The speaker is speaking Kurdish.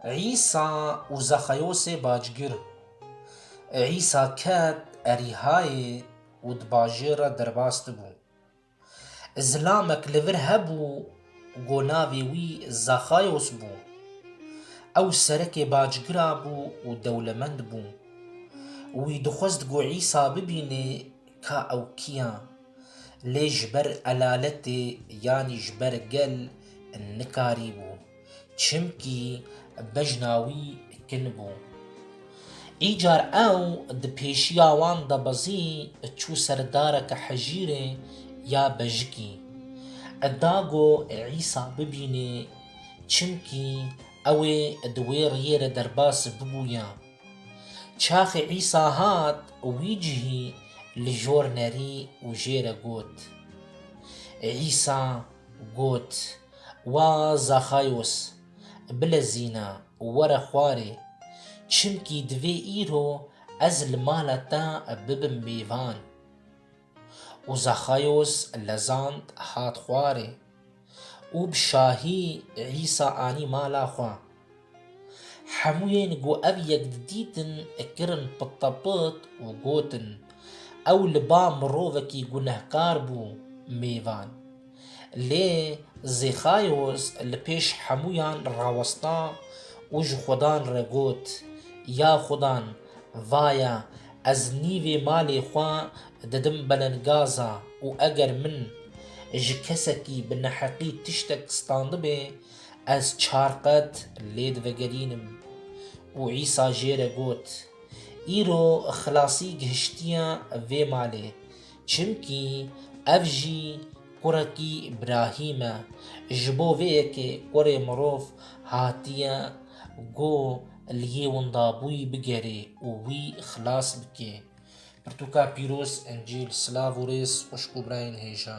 Îsa û Zexeyosê bacgir. Îsa ket Erîhayê û di bajêr re derbas dibû. Zilamek li vir hebû ku navê wî Zexeyos bû. Ew serekê bacgira bû û dewlemend bû. Wî dixwest ku Îsa bibînê ka ew kiya, lê ji ber elaletê yanî ji ber gel nikarîbû, çimkî bejna wî kin bû. Îcar ew di pêşiya wan de bezî çû ser dareke hejîrê ya bejikî, da ku Îsa bibînê, çimkî ew ê di wê riyê re derbas bibûya. Çaxê Îsa hat wî cihî li jor nerî û jê re got. Îsa got, Wa Zaxayos, bilezîne, were xwarê, çimkî divê îro ez li mala te bibim mêvan. û Zexayos lezand hat xwarê û bi şahî Îsa anî mala xwe. Hemûyên ku ev yek didîtin kirin pitepit û gotin, Ew li ba mirovekî gunehkar bû mêvan. Lê Zîxayos li pêş hemûyan rawesta û ji Xudan re got, Ya Xudan, vaye ez nîvê malê xwe didim belenggaza û eger min ji kesekî bi neheqî tiştek standibê, ez çar qet lê divegerînim. Û Îsa jê re got, Îro xilasî gihiştiye vê malê, Çimkî ev jî kurekî Îbrahîm e. Ji bo vê yekê kurê mirov hatiye ku li yê windabûyî bigerê û wî xilas bike. Pirtûka pîroz Encîl Silav û rêz xwişk û birayên hêja.